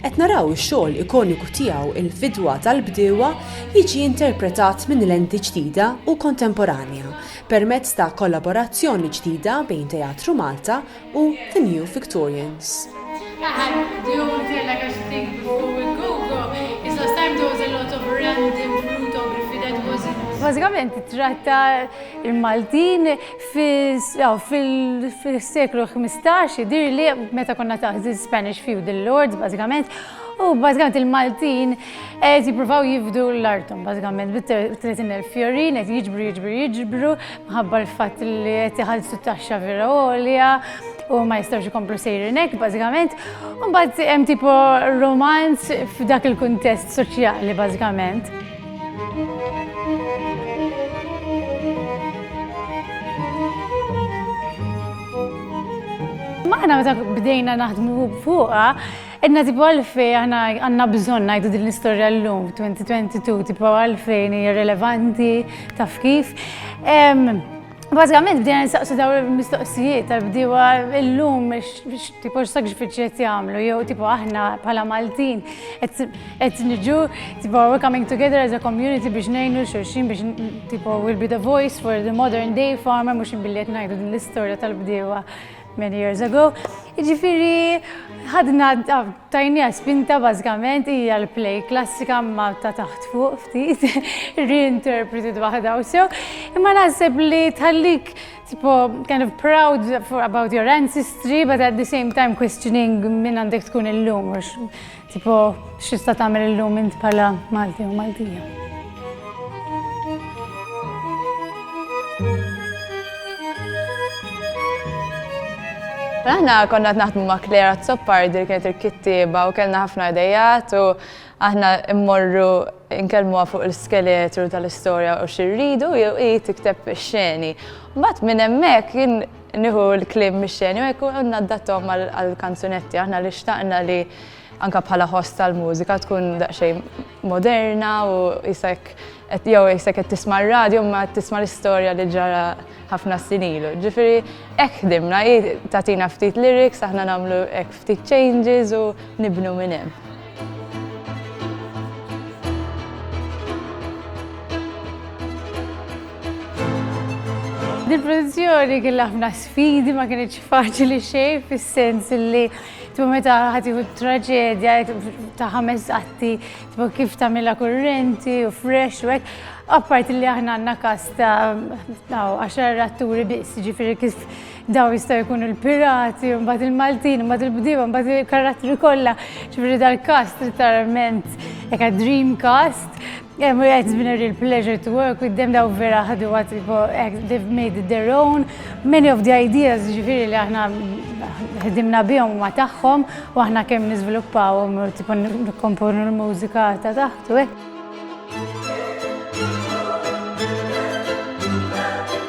Qed naraw ix-xogħol ikoniku tiegħu Il-Fidwa tal-Bdiewa jiġi interpretat minn lenti ġdida u kontemporanja permezz ta' kollaborazzjoni ġdida bejn Teatru Malta u The New Victorians. Bażikament tittratta l-Maltin Fis-seklu ħmistax jidhirli meta konna taħt il-Spanish feudal lords bażikament, u bażikament il-Maltin qed jippruvaw jifdu l-arthom bażikament bit-30,000 fjorin qed jiġbru jiġbru jiġbru minħabba l-fatt li qed iħallsu t-taxxa vera għolja u ma jistgħux ikomplu sejrin hekk bażikament. U mbagħad hemm tipo romanz f'dak il-kuntest soċjali bażikament. Maħna meta bdejna naħdmu fuqa, Edna tipo għalfej għana għanna bżon najdu din l-istoria l-lum 2022 tipo għalfej hija relevanti taf kif. Bażikament bdejna nsaqsu dawn il-mistoqsijiet tal-bdiewa illum tipo x'sagrifiċċji qed jagħmlu jew tipo aħna bħala Maltin qed niġu tipo we're coming together as a community biex ngħinu xulxin biex tipo will be the voice for the modern day farmer mhux billi qed ngħidu din l-istorja tal-bdiewa many years ago. Jiġifieri ħadna Tajniha spinta bażikament hija l-play klassika imma ta' taħt fuq ftit, reinterpreted waħda u sew, imma naħseb li tħallik tipo kind of proud for about your ancestry but at the same time questioning min għandek tkun illum għax tipo x'tista' tagħmel illum int bħala Malti jew Maltija. Aħna konna qed naħdmu ma' Claire Azzopardi li kienet il-kittieba u kellna ħafna idejat u aħna mmorru nkellmuha fuq l-iskeletru tal-istorja u xirridu jew hi tikteb ix-xeni. Mbagħad minn hemmhekk jien nieħu l-kliem mix-xeni u hekk għandna ddattom għall-kanzunetti aħna li xtaqna li anka bħala ħoss tal-mużika tkun daqsxejn moderna u jisek jew jisek qed tisma' r-radju imma qed tisma' l-istorja li ġara ħafna snin ilu. Ġifieri hekk ħdimna, hi tagħtina ftit lyrics, aħna nagħmlu hekk ftit changes u nibnu minn hemm. Din il-produzzjoni kellha ħafna sfidi, ma kinitx faċli xejn fis-sens li Tipo meta ħadd jieħu traġedja ta' ħames qatti, tipo kif tagħmilha kurrenti u fresh u hekk. Apparti li aħna għandna kas ta' għaxar atturi biss, ġifieri kif daw jistgħu jkunu l-pirati, mbagħad il-Maltin, mbagħad il-bdiewa, mbagħad il-karattri kollha, ġifieri dal-kast literalment hekk dream cast. Yeah, Maria, it's been a real pleasure to work with them. Daw vera ħadu għat, they've made it their own. Many of the ideas ġifiri li aħna ħdimna bihom ma taħħom, u aħna kem nizviluppawhom, tipo nkomponu l-mużika ta' taħtu, eh.